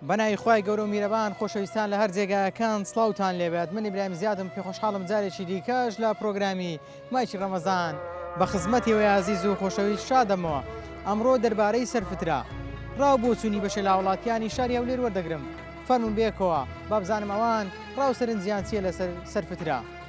بەناوی خوای گەورەو میرەبان خۆشەویستان لەهەر جێگاکان سڵاوتان لێبێت من ئیبراهیم زیادم پێ خۆشحاڵم جارێکی دیکەش لە پرۆگرامی مایکی ڕەمەزان بە خزمەتی وەی ئازیز و خۆشەویست شادەمەوە ئەمڕۆ دەربارەی سەرفترە ڕاو بۆچوونی بەشێ لاوەڵاتیانی شاری هەولێر وەردەگرم فەرمون بێکەوە بابزانم ئەوان ڕاو سەرنجیان چیە لەسەر سەرفترە.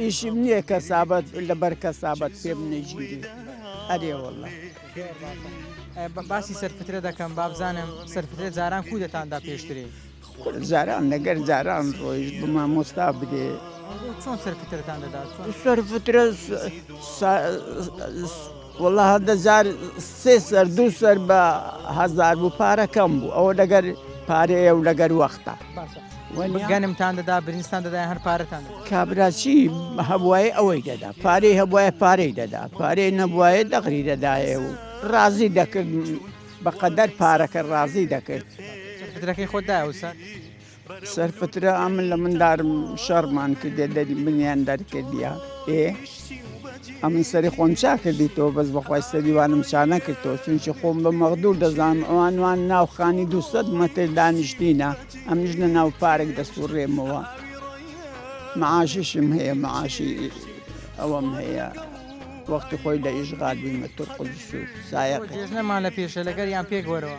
ئیشم نییە کەسابەت لەبەر کەسابەت پێم نەژیری ئەرێ والله باسی سەرفترە دەکەم بابزانم سەرفترە جاران کو دەتاندا پێشتری جاران لەگەر جاران ڕۆیشت بما مۆستا بدێ چۆن سەرفترتان دەدات سەرفترە وەڵا هەندە جار سێ سەر دوو سەر بە هەزار بوو پارە کەم بوو ئەوە لەگەر پارەیە و لەگەر وەختە گەنمتان دەدا برنجستان دەدا هەر پارەتان کابراچی هەبواە ئەوەی دەدا پارەی هەبواە پارەی دەدا پارەی نەبواە دەغری دەدایە و ڕازی دەکرد بەقەدەر پارەکە ڕازی دەکرد درەکەی خۆدا وسە سەرفترە ئەمن لە مندارم شەڕمان کردێ دەری منیان دەرکردە ئێ ئەمن سەری خۆم چا کردی تۆ بەس بەخوای سەریوانم چانە کردەوە چونچە خۆم بە مەغدور دەزانم ئەوانوان ناوخانی دوسە مەتر دانیشتینە ئەم ژ لە ناو پارێک دەسوڕێمەوە معاشیشم هەیە معاشی ئەوەم هەیە وەختی خۆی لە ئیشغال بوومە تورقدس و سایەق نەمانە پێشە لەگەر یان پێک وەرەوە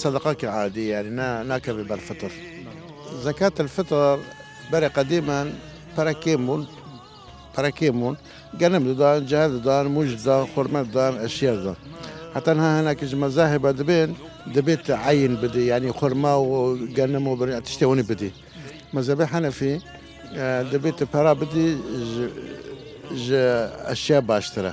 سەدەقە کە عادی یاری نا ناکەێ بەر فتر زەکات الفتر بەرە قەدیمان پەرە کێم بوون پەرە کێم بوون گەنم ددان جار ددان مژدان خورمەدان ئەشێردان حتان ها هەناکیش مەزاهێ بە دەبێن دەبێت عین بدی ینی خورما و گەنم و بری تشتێونی بدی مەزەبە حەنەفی دەبێت پەرا بدی ئەشیا باشترە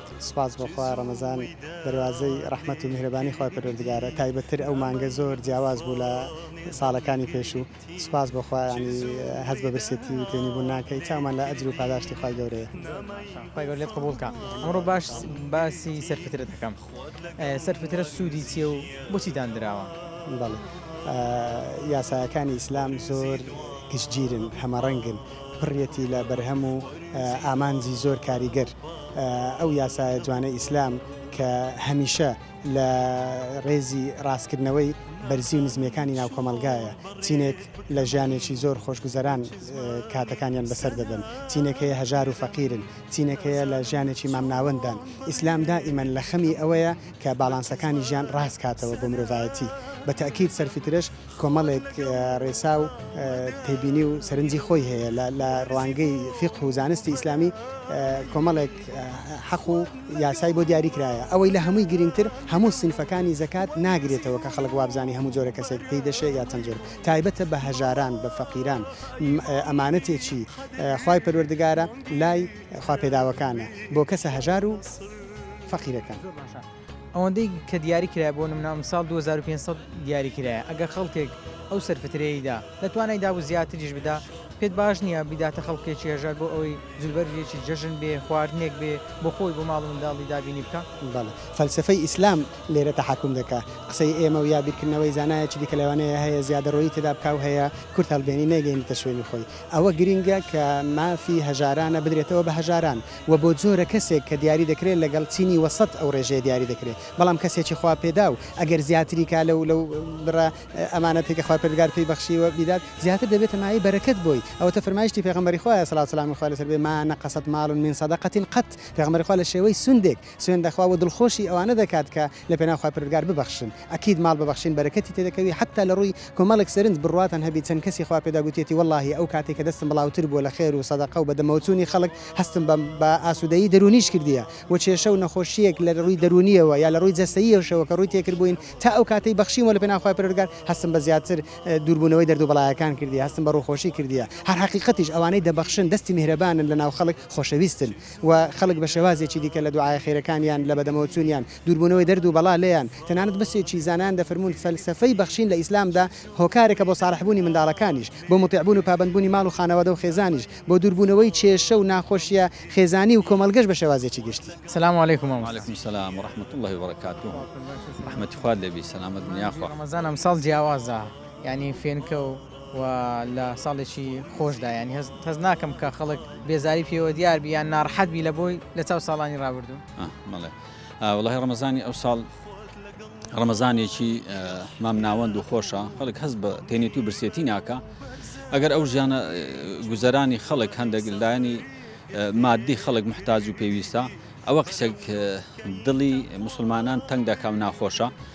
سوپاس بۆ خوا ڕەمەزان دەروازەی ڕەحمەت و میهرەبانی خوای پەروەردگارە تایبەت تر ئەو مانگە زۆر جیاواز بوو لە ساڵەکانی پێشوو سوپاس بۆ خوا ینی هەز بە برسێتی و تێنی بوون ناکەی چامان لە ئەجر و پاداشتی خوای گەورەیە خوای گەورە لێت قبوڵ کا ئەمڕۆ باش باسی سەرفترە دەکەم سەرفترە سوودی چیە و بۆچی داندراوە بەڵێ یاساکانی ئیسلام زۆر گشتگیرن هەمەڕەنگن پڕیەتی لە بەرهەم و ئامانجی زۆر کاریگەر ئەو یاسایە جوانەی ئیسلام کە هەمیشە لە ڕێزی ڕاستکردنەوەی بەرزی و نزمیەکانی ناو کۆمەڵگایە چینێک لە ژیانێکی زۆر خۆشگوزەران کاتەکانیان بەسەر دەبەن چینێک هەیە هەژار و فەقیرن چینێک هەیە لە ژیانێکی مامناوەنددان ئیسلام دائیمەن لە خەمی ئەوەیە کە باڵانسەکانی ژیان ڕاست کاتەوە بۆ مرۆڤایەتی بە تەئکید سەرفیترەش کۆمەڵێک ڕێسا و تێبینی و سەرنجی خۆی هەیە لە ڕوانگەی فیقه و زانستی ئیسلامی کۆمەڵێک حەق و یاسای بۆ دیاری کرایە ئەوەی لە هەمووی گرنگتر هەموو سنفەکانی زەکات ناگرێتەوە کە خەڵک وابزانانی هەموو جۆرە کەسێک پێی دەشێ یا چەند جۆر تایبەتە بە هەژاران بە فەقیران ئەمانەتێکی خوای پەروەردگارە لای خوا پێداوەکانە بۆ کەسە هەژار و فەقیرەکان. ئەوەندەی کە دیاری کرایە بۆ نمونە ئەمساڵ دوو هەزار و پێنج سەد دیاری کرایە ئەگەر خەڵکێک ئەو سەرفترەیەی دا لە توانای دابوو زیاتریش بدا پێت باش نییە بیداتە خەڵکێکی هەژار بۆ ئەوەی جلوبەرگێکی جەژن بێ خواردنێک بێ بۆ خۆی بۆ ماڵ و منداڵی دابینی بکا؟ بەڵێ فەلسەفەی ئیسلام لێرە تەحەکوم دەکا قسەی ئێمە و یا بیرکردنەوەی زانایەکی دیکە لەوانەیە هەیە زیادەڕۆیی تێدا بکا و هەیە کورت هەڵبێنی نەیگەینێتە شوێنی خۆی ئەوە گرینگە کە مافی هەژارانە بدرێتەوە بە هەژاران وە بۆ جۆرە کەسێک کە دیاری دەکرێت لەگەڵ چینی وەسەت ئەو ڕێژەیە دیاری دەکرێت بەڵام کەسێکی خوا پێداو ئەگەر زیاتری کا لەو لەو بڕە ئەمانەتی کە خوای پەروەردگار پێی بەخشیوە بیدات زیاتر دەبێتە مایەی بەرەکەت بۆی ئەوەتە فەرمایشتی پێغەمبەری خوا یە سڵاوت سەلامی خوای لەسەر بێ ما نقصت مال من صدقە قط پێغەمبەری خوا لە شێوەی سوندێک سوێند دەخوا وە دڵخۆشی ئەوانە دەکات کە لە پێناو خوای پەروەردگار ببەخشن ئەکید ماڵ ببەخشین بەرەکەتی تێدەکەوی حەتا لە ڕووی کۆمەڵێک سەرنج بڕواتان هەبی چەند کەسی خوا پێدا گوتیەتی وەڵاهی ئەو کاتەی کە دەستم بڵاوتر بووە لە خێر و سەدەقە و بە دەمەوە چوونی خەڵک هەستم بە بە ئاسوودەیی دەروونیش کردیە و کێشە و نەخۆشیەک لە ڕووی دەروونیەوە یا لە ڕووی جەستەییەوەشەوە کە ڕووی تێکردبووین تا ئەو کاتەی بەخشیمەوە لە پێناو خوای پەروەردگار هەستم بە زیاتر دوور بوونەوەی دەرد و بەڵایەکان کردیە هەستم بە ڕووخۆشی کردیە هەر حەقیقەتیش ئەوانەی دەبەخشن دەستی میهرەبانن لە ناو خەڵک خۆشەویستن و خەڵک بە شێوازێکی دیکە لە دوعایە خێرەکانیان، لە بەدەمەوەچوونیان، دووربوونەوەی دەرد و بەڵا لێیان، تەنانەت بەشێکی زانایان دەفەرموون فەلسەفەی بەخشین لە ئیسلامدا هۆکارێکە بۆ ساڵحبوونی منداڵەکانیش، بۆ موتیعبوون و پابەندبوونی ماڵ و خانەوادە و خێزانیش، بۆ دووربوونەوەی کێشە و ناخۆشییە خێزانی و کۆمەڵگەش بە شێوازێکی گشتی. سلام و علیکم مامۆستا. وعلیکم سلام ورحمت اللە وبرکاته ڕەحمەتی خوات لێبی سەلامەت بن یاخوا. ڕەمەزان ئەمساڵ جیاوازە یانی فێنکە و. و لە ساڵێکی خۆشدا یانی هەست ناکەم کە خەڵک بێزاری پێوە دیار بی یان ناڕەحەت بی لە بۆی لە چاو ساڵانی ڕابردوو. بەڵێ وەڵاهی ڕەمەزانی ئەوساڵ ڕەمەزانێکی مامناوەند و خۆشە خەڵک هەست بە تێنێتی و برسێتی ناکە ئەگەر ئەو ژیانە گوزەرانی خەڵک هەندێک لایەنی مادی خەڵک محتاج و پێویستە ئەوە قسەک دڵی مسلمانان تەنگ دەکە و ناخۆشە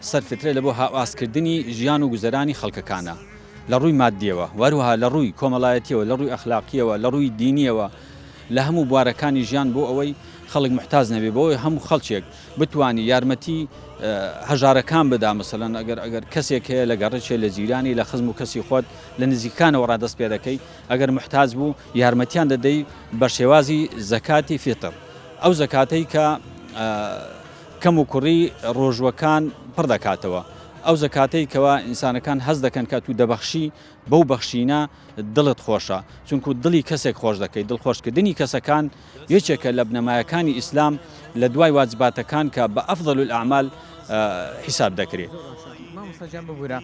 سەر فترە لە بۆ هاواز کردنی ژیان و گوزەرانی خەڵکەکانە لە ڕووی ماددیەوە وەروەها لە ڕووی کۆمەڵایەتیەوە لە ڕووی ئەخلاقیەوە لە ڕووی دینیەوە لە هەموو بوارەکانی ژیان بۆ ئەوەی خەڵک محتاز نەبێ بۆ ئەوەی هەموو خەڵکێک بتانی یارمەتی هەژارەکان بدا مەسەلەن ئەگەر ئەگەر کەسێک هەیە لە گەڕچێ لە جیرانی لە خزم و کەسی خۆت لە نزیکانەوە ڕادەست پێ دەکەی ئەگەر محتاج بوو یارمەتیان دەدەی بە شێوازی زەکاتی فیتر ئەو زەکاتەی کە کەم و کوڕی ڕۆژووەکان پڕ دەکاتەوە، ئەو زەکاتەی کەوا ئینسانەکان هەست دەکەن کە ئەتوو دەبەخشی بەو بەخشینە دڵت خۆشە چونکوو دڵی کەسێک خۆش دەکەی، دڵخۆش کردنی کەسەکان یەکێکە لە بنەمایەکانی ئیسلام لە دوای واجباتەکان کە بە افضل الاعمال حیساب دەکرێ. مامۆستا گیان ببورە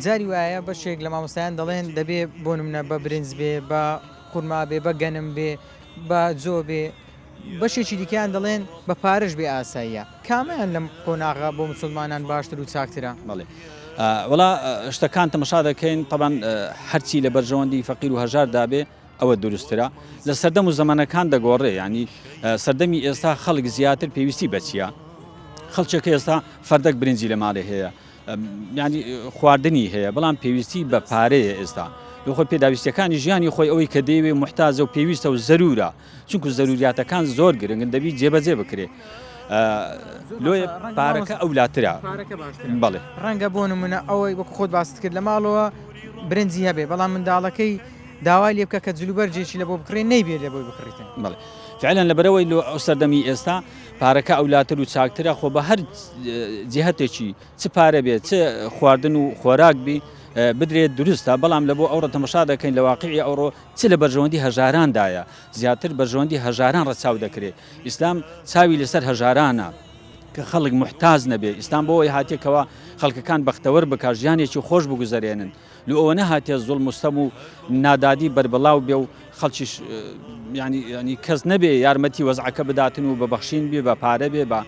جاری وایە بەشێک لە مامۆستایان دەڵێن دەبێ بۆ نمونە بە برنج بێ بە خورما بێ بە گەنم بێ بە جۆ بێ بەشێکی دیکەیان دەڵێن بە پارەش بێ ئاساییە. کامەیان لەم قۆناغە بۆ موسڵمانان باشتر و چاکترە؟ بەڵێ وەڵا شتەکان تەمەشا دەکەین تەبعەن هەرچی لە بەرژەوەندی فەقیر و هەژار دابێ ئەوە دروستترە لە سەردەم و زەمەنەکان دەگۆڕێ یعنی سەردەمی ئێستا خەڵک زیاتر پێویستی بەچیە خەڵچێک ئێستا فەردەک برنجی لە ماڵێ هەیە ینی خواردنی هەیە بەڵام پێویستی بە پارەیە ئێستا لەخۆ پێداویستەکانی ژیانی خۆی ئەوەی کە دەیەوێ محتاجە و پێویستە و زەرورە چونکو زەروریاتەکان زۆر گرنگن دەبی جێبەجێ بکرێ لۆ پارەکە ئەو لاترا بەڵێ ڕەنگە بۆ نمونە ئەوەی وەک خۆت باست کرد لە ماڵەوە برنجی هەبێ بەڵام منداڵەکەی داوای لێ بکە کە جلوبەرجێکی لە بۆ بکڕێ نەیبێت لە بۆی بکڕیتن بڵێ فعلەن لە بەرەوەی لۆ ئەو سەردەمی ئێستا پارەکە ئەو لاتر و چاکترە خۆ بە هەر جهتێکی چ پارە بێت چ خواردن و خۆراک بی بدرێت دروستە بەڵام لە بۆ ئەوڕە تەمەشا دەکەین لە واقعی ئەوڕۆ چ لە بەرژەوەندی هەژاران دایە، زیاتر بەرژەوەندی هەژاران ڕەچاو دەکرێ، ئیسلام چاوی لەسەر هەژارانە کە خەڵک موحتاج نەبێ، ئیسلام بۆ ئەوەی هاتیە کەوا خەڵکەکان بەختەوەر بکا ژیانێکی خۆش بگوزەرێنن لۆ ئەوە نەهاتیە زوڵم و ستەم و نادادی بەربڵاو بێ و خەڵکیش یانی یانی کەس نەبێ یارمەتی وەزعەکە بداتن و بە بەخشین بێ بە پارە بێ بە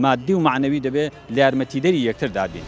مادی و مەعنەوی دەبێ لە یارمەتیدەری یەکتر دابین.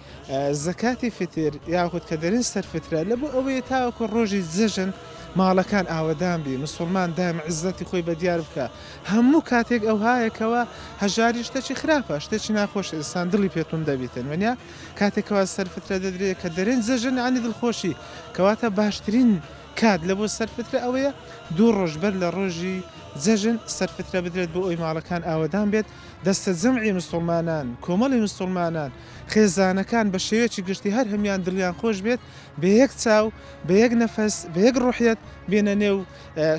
زەکاتی فیتر یاخود کە دەرێن سەر فترە لە بۆ ئەوەیە تاوەکو ڕۆژی جەژن ماڵەکان ئاوەدان بی مسلمان دایم عزەتی خۆی بە دیار بکە هەموو کاتێک ئەو هایەکەوە هەژاری شتەچی خراپە شتێکی ناخۆش ئینسان دڵی پێتون دەبیتن وەنیا کاتێکەوە سەر فترە دەدرێت کە دەرێن جەژن عنی دڵخۆشی کەواتە باشترین کات لە بۆ سەر فترە ئەوەیە دوو ڕۆژ بەر لە ڕۆژی جەژن سەرفترە بدرێت بۆ ئەوی ماڵەکان ئاوەدان بێت دەستە جەمعی مسلمانان کۆمەڵی مسلمانان خێزانەکان بە شێوەیەکی گشتی هەر هەموان دڵیان خۆش بێت بە یەک چاو بە یەک نەفەس بە یەک ڕوحیەت بێنە نێو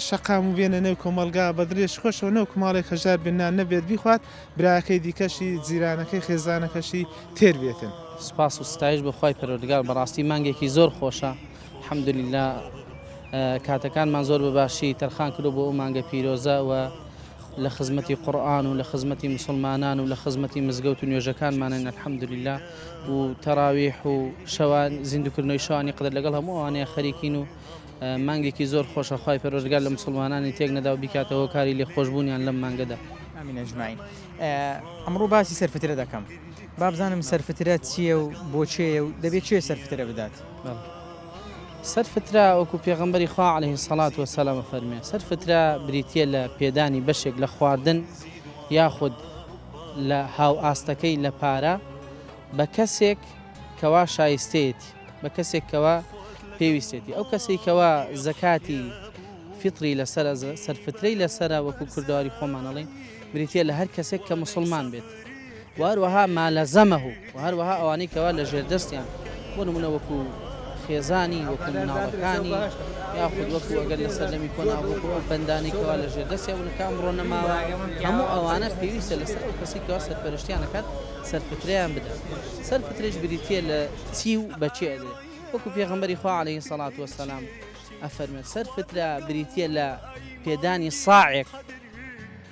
شەقام و بێنە نێو کۆمەڵگا بە دڵێش خۆشەوە نەوەک ماڵێک هەژار بێ نان نەبێت بیخوات براکەی دیکەشی جیرانەکەی خێزانەکەشی تێر بێتن. سوپاس و ستایش بۆ خوای پەروەردگار بەڕاستی مانگێکی زۆر خۆشە الحمدللە کاتەکانمان زۆر بە باشی تەرخان کرۆ بۆ ئەو مانگە پیرۆزە وە لە خزمەتی قورئان و لە خزمەتی موسڵمانان و لە خزمەتی مزگەوت و نوێژەکانمانین الحمدللە و تەراویح و شەوان زیندوکردنەوەی شەوانی قدر لەگەڵ هەموو ئەوانەیە خەریکین و مانگێکی زۆر خۆشە خوای پەروەردگار لە مسلمانانی تێک نەدا و بیکاتە هۆکاری لێخۆشبوونیان لەم مانگەدا ئامین ئەجمعین ئەمڕۆ باسی سەرفترە دەکەم بابزانم سەرفترە چییە و بۆ چێیە و دەبێت چێ سەرفترە بدات بەڵێ سەر فترە، وەکو پێغەمبەری خوا علیە سەڵات وسەلام ئەفەرموێ، سەر فترە بریتیە لە پێدانی بەشێک لە خواردن یاخود لە هاو ئاستەکەی لە پارە بە کەسێک کەوا شایستەیەتی بە کەسێک کەوا پێویستێتی ئەو کەسی کەوا زەکاتی فطری لەسەر سەرفترەی لەسرە وەکو کوردواری خۆمانەڵین بریتە لە هەر کەسێک کە مسلمان بێت و هەروەها ما لزمه و هەروەها ئەوانەی کەوا لە ژێر دەستیان بۆ نموونە وەکوو خێزانی وەکوو مناڵەکانی یاخود وەکوو ئەگەر لە سەردەمی کۆنا وەکوو ئەو بەندانەی کەوا لە ژێر دەستیان بوون کە ئەمڕۆ نەماوە هەموو ئەوانە پێویستە لەسەر ئەو کەسەی کەوا سەرپەرشتیان دەکات سەرپتریان بدات سەرپتریش بریتییە لە چی و بە چێ ئەدرێ وەکوو پێغەمبەری خوا عەلەیهی سەڵات وەسەلام ئەفەرمێت سەرپترا بریتییە لە پێدانی ساعێک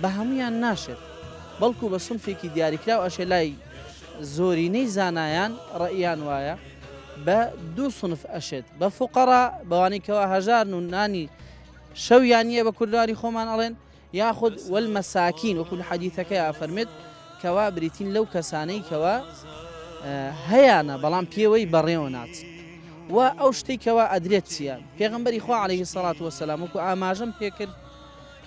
بە هەموویان ناشێت، بەڵکو بە سنفێکی دیاریکراو ئەشێ لای زۆرینەی زانایان ڕەئیان وایە بە دوو سنف ئەشێت بە فوقەڕا بەوانەی کەوا هەژارن و نانی شەویان نییە بە کوردانی خۆمان ئەڵێن یاخود وەل مەساکین وەکو لە حەدیثەکەی ئافەرمێت کەوا بریتین لەو کەسانەی کەوا هەیانە بەڵام پێوەی بەڕێوە ناچ و ئەو شتێکەوە ئەدرێت چییە پێغمبەری خوا عليه سەڵات وەسەلام وکو ئاماژەم پێکرد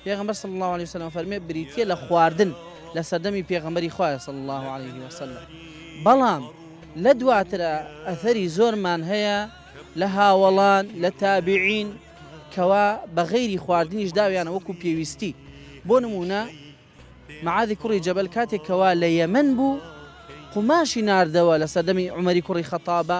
پێغەمبەر صلی اللە علیە وسلم فەرمی بریتیە لە خواردن لە سەردەمی پێغەمبەری خوایە صلی اللە علیە وسلم بەڵام لە دواترا ئەثەری زۆرمان هەیە لە هاوەڵان لە تابعین کەوا بە غەیری خواردنیش داویانە وەکو پێویستی بۆ نمونە معادی کوڕی جەبل کاتێکەوە لە یەمن بوو قوماشی نردەوە لە سەردەمی عمەری کوڕی خەتابە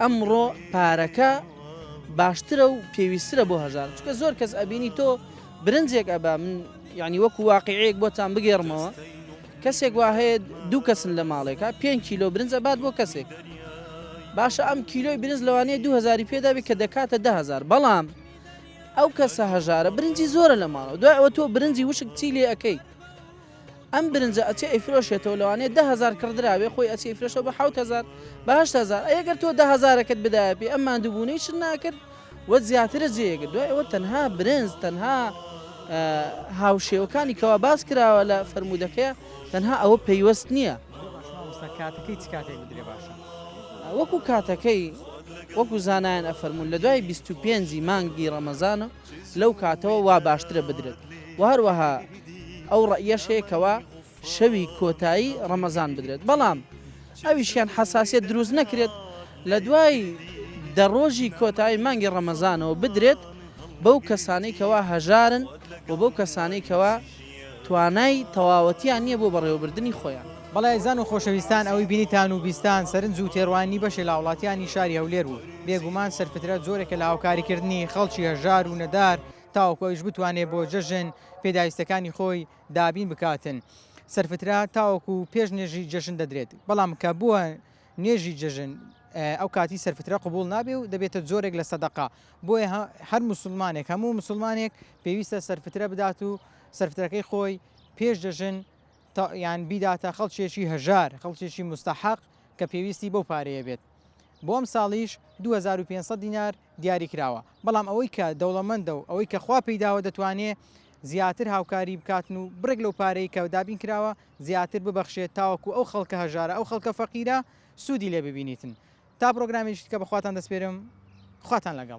ئەمڕۆ پارەکە باشترە و پێویسترە بۆ هەژار چکە زۆر کەس ئەبینی تۆ برنجێک ئەبا من یعنی وەکو واقعەیەک بۆتان بگێڕمەوە کەسێک وا هەیە دوو کەسن لە ماڵێکە پێ کیلۆ برنجە بات بۆ کەسێک باشە ئەم کیلۆی برنج لەوانەیە دوهزاری پێدابێت کە دەکاتە دههزار بەڵام ئەو کەسە هەژارە برنجی زۆرە لە ماڵەوە دوای ئەوە تۆ برنجی وشک چی لێ ئەەکەیت ئەم برنجە ئەچێ ئەیفرۆشێتەوە لەوانەیە دە هەزار کڕدرابێ خۆی ئەچێ ئەیفرۆشێتەوە بە حەوت هەزار بە هەشت هەزار ئەی گەر تۆ دە هەزارەکەت بدایە پێی ئەم ماندووبوونەی شت ناکرد وەت زیاترە جێیەگرت دوای ئەوە تەنها برنج تەنها هاوشێوەکانی کەوا باس کراوە لە فەرمودەکەیە تەنها ئەوە پەیوەست نییە کاتەکەی چ کاتێک بدرێ باشە وەکو کاتەکەی وەکو زانایان ئەفەرمون لە دوای 25 مانگی ڕەمەزانە لەو کاتەوە وا باشترە بدرێت و هەروەها ئەو ڕەئیەش هەیە کەوا شەوی کۆتایی ڕەمەزان بدرێت بەڵام ئەویشیان حەساسیت دروست نەکرێت لە دوای دە ڕۆژی کۆتایی مانگی ڕەمەزانەوە بدرێت بەو کەسانی کەوا هەژارن و بەو کەسانی کەوا توانای تەواوەتیان نیە بۆ بەڕێوەبردنی خۆیان. بەڵێ ئەزیزان و خۆشەویستان ئەوەی بینیتان و بیستتان سەرنج و تێڕوانینی بەشێ لاوڵاتیانی شاری هەولێر بوو، بێگومان سەرفترە جۆرێکە لە هاوکاری کردنی خەڵکی هەژار و نەدار تاوەکو ئەویش بتوانێ بۆ جەژن پێداویستەکانی خۆی دابین بکاتن سەرفترە تاوەکو پێش نوێژی جەژن دەدرێت بەڵام کە بووە نوێژی جەژن ئەو کاتی سەرفترە قبوڵ نابێ و دەبێتە جۆرێک لە سەدەقە بۆیە هەر موسوڵمانێک هەموو موسوڵمانێک پێویستە سەرفترە بدات و سەرفترەکەی خۆی پێش دەژن یان بیداتە خەڵکێکی هەژار خەڵکێکی مستحق کە پێویستی بەو پارەیە بێت بۆ ئەم ساڵیش 2500 دینار دیاری کراوە بەڵام ئەوەی کە دەوڵەمەندە و ئەوەی کە خوا پێیداوە دەتوانێت زیاتر هاوکاری بکاتن و بڕێک لەو پارەی کە دابین کراوە زیاتر ببەخشێت تاوەکو ئەو خەڵکە هەژارە ئەو خەڵکە فەقیرە سوودی لێ ببینیتن تا پرۆگرامێکی کە بەخواتان دەسپێرم خواتان لەگەڵ